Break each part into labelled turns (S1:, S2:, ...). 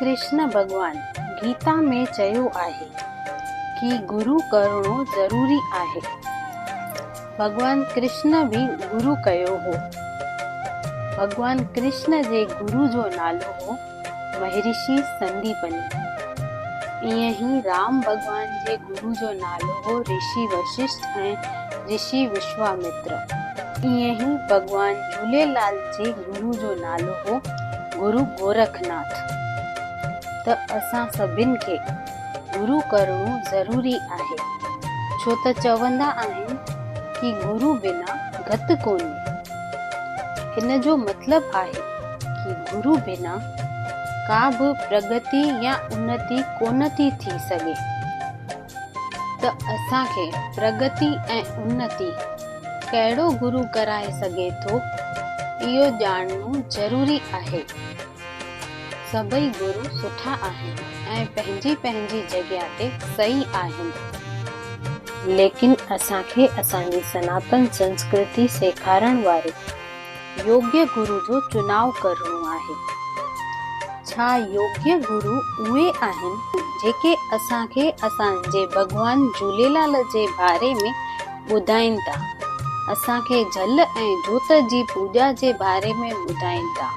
S1: ڪرشن ڀڳوان گيتا ۾ چيو آهي ڪي گرو ڪرڻو ضروري آهي. ڀڳوان ڪرشن به گرو ڪيو هو. ڀڳوان ڪرشن جي گرو جو نالو هو. مهرشي سنديپني. ائين ئي رام ڀڳوان جي گرو جو نالو هو رشي وششٽ ۽ رشي وشوامتر. ائين ئي ڀڳوان جهوليلال جي گرو جو نالو هو گرو گورکناٿ. ته اسان سڀن کي گرو ڪرڻو ضروري آهي ڇو ته چوندا آهن ڪي گرو بنا گت ڪونهي. هن جو مطلب آهي ڪي گرو بنا ڪا به پرڳتي يا انتي ڪونه ٿي ٿي سگهي ته اسان کي پرڳتي ۽ انتي ڪهڙو گرو ڪرائي سگهي ٿو اهو ڄاڻڻو ضروري آهي. سڀئي گرو سٺا آهن ۽ پنهنجي پنهنجي جڳهه تي صحيح آهن. ليڪن اسان کي اسان جي سناتن سنسڪرتي سيکارڻ واري يوگيه گرو جو چناء ڪرڻو آهي. ڇا يوگيه گرو اهي آهن جيڪي اسان کي اسان جي ڀڳوان جهوليلال جي باري ۾ ٻڌائين ٿا، اسان کي جھل ۽ جوت جي پوڄا جي باري ۾ ٻڌائين ٿا،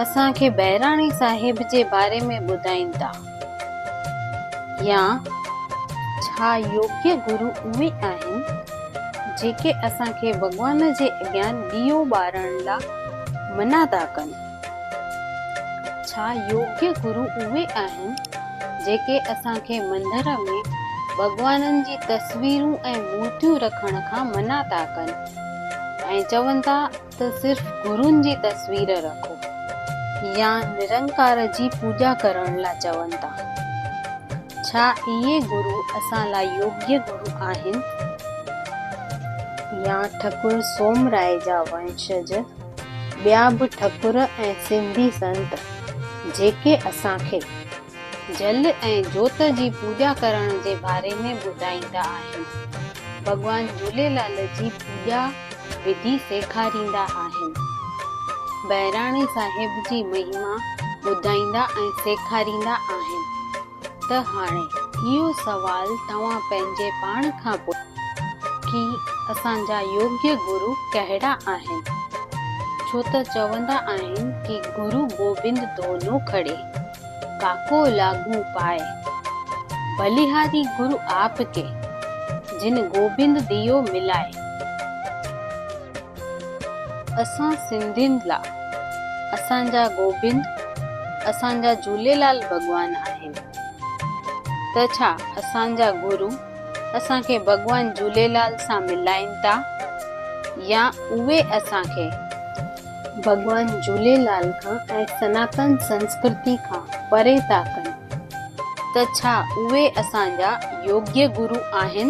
S1: اسان کي بهراڻي صاحب جي باري ۾ ٻڌائين ٿا يا ڇا يوگي گرو اهي آهن جيڪي اسان کي ڀڳوان جي اڳيان ڏيئو ٻارڻ لا منع ٿا ڪن. ڇا يوگي گرو اهي آهن جيڪي اسان کي مندر ۾ ڀڳوانن جي تصويرون ۽ مورتيون رکڻ کان منع ٿا ڪن ۽ چون ٿا ته صرف گرون جي تصوير رکو يا نرنڪار جي پوڄا ڪرڻ لا چون ٿا؟ ڇا اهي گرو اسان لا يوگي گرو آهن يا ٺڪر سومرائي جا ونشج؟ ٻيا به ٺڪر ۽ سنڌي سنت جيڪي اسان کي جل ۽ جوت جي پوڄا ڪرڻ جي باري ۾ ٻڌائيندا آهن. ڀڳوان جهوليلال جي پوڄا وڌي سيکاريندا آهن. بهراڻي صاحب جي مهما ٻڌائيندا ۽ سيکاريندا آهن. ته هاڻي اهو سوال توهان پنهنجي پاڻ کان پڇو ڪي اسان جا يوگي گرو ڪهڙا آهن؟ ڇو ته چوندا آهن ڪي گرو گوبند دونو کڙي، ڪاڪو لاڳون پائي. بليهاري گرو آپ ڪي، جن گوبند ديو ملائي. اسان سنڌين لا اسان جا گوبند اسان جا جهوليلال ڀڳوان آهن ته ڇا اسان جا گرو اسان کي ڀڳوان جهوليلال سان ملائين تا يا اهي اسان کي ڀڳوان جهوليلال کان ۽ سناتن سنسڪرتي کان پري تا ڪن ته ڇا اهي اسان جا يوگيه گرو آهن؟